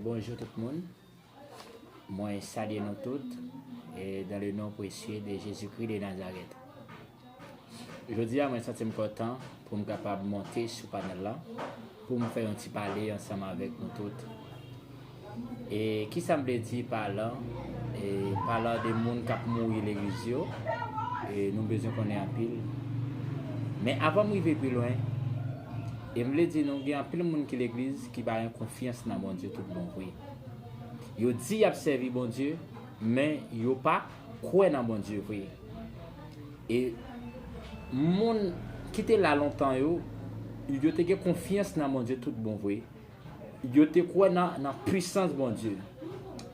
Bonjou tout moun mwen salye nou tout dan le non presye de Jezi Kri de Nazarèt. Jodi a mwen santi m kontan pou m kapab monte sou panèl la pou m fè yon ti pale ansanm avèk nou tout. E ki sa m vle di pa la? E pa la de moun kap mouri legliz yo e nou bezwen konnen anpil. Men avan m rive pi lwen, E m vle di nou gen anpil moun ki legliz ki pa gen konfyans nan Bondye tout bon vre. Yo di y ap sèvi Bondye, men yo pa kwè nan Bondye vre. E moun ki te la lontan yo, yo te gen konfyans nan Bondye tout bon vre. Yo te kwè nan pwisans Bondye.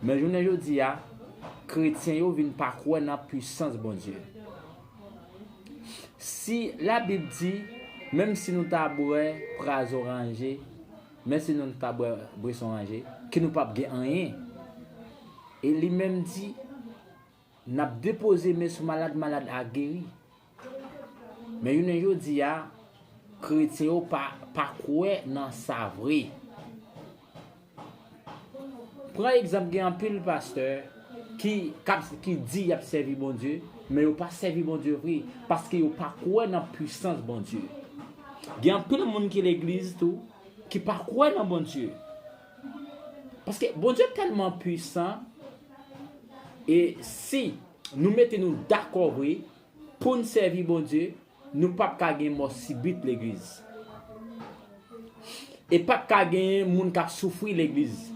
Men jounen jodi a, kretyen yo vin pa kwè nan pwisans Bondye. Si labib di, menm si nou ta bwè prazo ranje, men si nou ta bwè bweson ranje, ke nou pap gen anyen. E li menm di, nap depoze men sou malad, malad a geri. Men jounen jodi a, kretyen yo pa kwè nan sa vre. Pran egzanp gen anpil pastè ki kap ki di yap sèvi Bondye men yo pa sèvi Bondye vre paske yo pa kwè nan pwisans Bondye gen anpil moun ki legliz tou ki pa kwè nan Bondye paske Bondye tèlman pwisan e si nou mete nou dakò vre poun sèvi Bondye Nou pap ka gen mò sibit legliz. E pap ka genyen moun kap soufri legliz.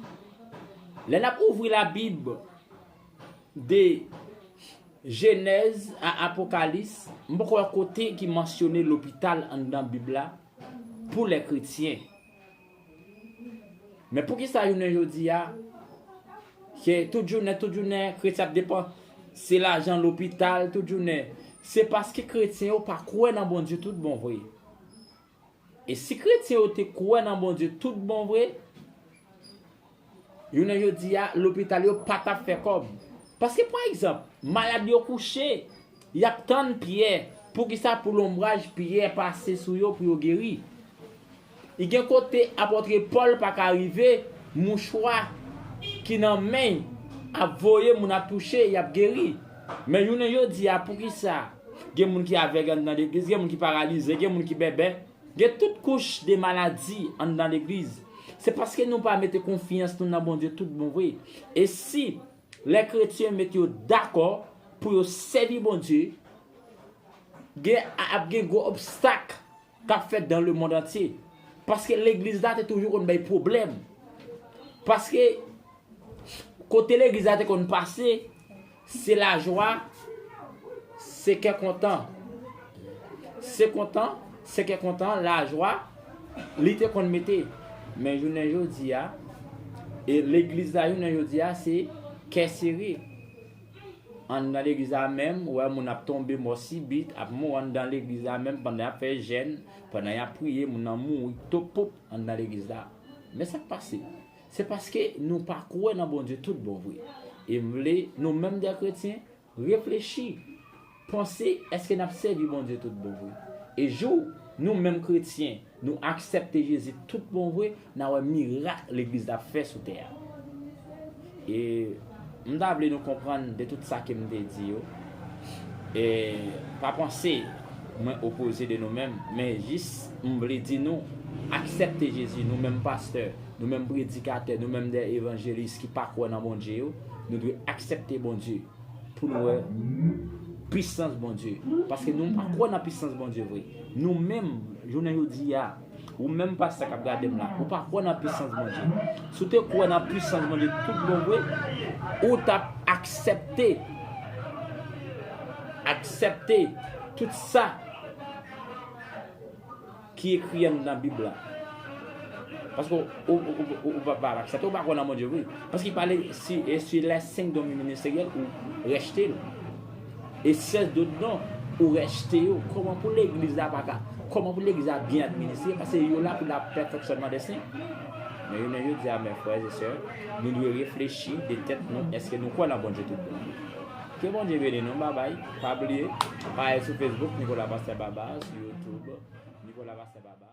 Lè nap ouvri la bib de jenèz a apokalis m poko wè kote ki mansyone lopital anndan bib la pou lè kretyen. Men poukisa jounen jodi a, se tout jounen, tout jounen, kretyen ap depan, se lajan lopital tout jounen. Se paske kretyen yo pa kwè nan Bondye tout bon vre. E si kretyen yo te kwè nan Bondye tout bon vre, Jounen jodi a, lopital yo pa t ap fè kòb. Paske pa egzanp, malad yo kouche, y ap tann Pyè, poukisa pou lonbraj Pyè pase sou yo pou yo geri? Y gen kote apòtre Pòl pa ka rive, mouchwa ki nan men y ap voye moun ap touche, y ap geri. Men jounen jodi a, poukisa gen moun ki avèg anndan legliz, gen moun ki paralize, gen moun ki bèbè? Gen tout kouch de maladi anndan legliz, se paske nou pa mete konfyans nou nan Bondye tout bon vre. E si lè kretyen met yo dakò pou yo sèvi Bondye, gen ap gen gwo obstak kap fèt dan le mond antye. Paske legliz la te toujou konn bay pwoblèm. Paske kote legliz la te konn pase. Se lajwa, se kè kontan. Se kontan, se kè kontan, lajwa, li te konn mete. Men jounen jodi a, e legliz la jounen jodi a se kè sere. An nan legliz la menm, ou wè moun ap tonbe mò sibit, ap mou an nan legliz la menm pandan y ap fè jèn, pandan y ap priye, moun nan mouri, topoup, an nan legliz la. Men sa k pase? Se paske nou pa kwè nan Bondye tout bon vre. E m vle nou menm dè kretyen reflechi, panse èske n ap sèvi Bondye tout bon vre. E jou nou menm kretyen nou aksèpte Jezi tout bon vre, n a wè mirak Legliz la ap fè sou tè a. E. M ta vle nou konprann de tout sa ke m te di yo, e pa panse mwen opoze de nou menm, men jis m vle di nou, aksèpte Jezi, nou menm pastè, nou menm predikatè, nou menm de evanjelis ki pa kwè nan Bondye yo, nou dwe aksèpte Bondye pou nou wè pisans Bondye, paske nou pa kwè nan pisans Bondye vre, nou menm jounen jodi a. Ou menm pastè kap gadem la ou pa kwè nan pisans Bondye si w te kwè nan pisans Bondye tout bon vre ou tap aksèpte aksèpte tout sa ki ekri anndan bib la paske ou pa aksèpte ou pa kwè nan Bondye vre paske li pale si lè 5 don ministeryèl ou rejtel. E sèl dot non ou rejte yo. Koman pou legliz la pa ka. Koman pou legliz la byen administre. Pase yo la pou la pè fonksyonman de sen. Men jounen jodi a men frères et sœurs, nou dwe reflechi de tèt nou eske nou kwè lan Bondye tout bon. Ke Bondye beni nou babay, pa bliye, pa al sou Facebook Nicolas Pasteur Barba, sou YouTube Nicolas Pasteur Barba.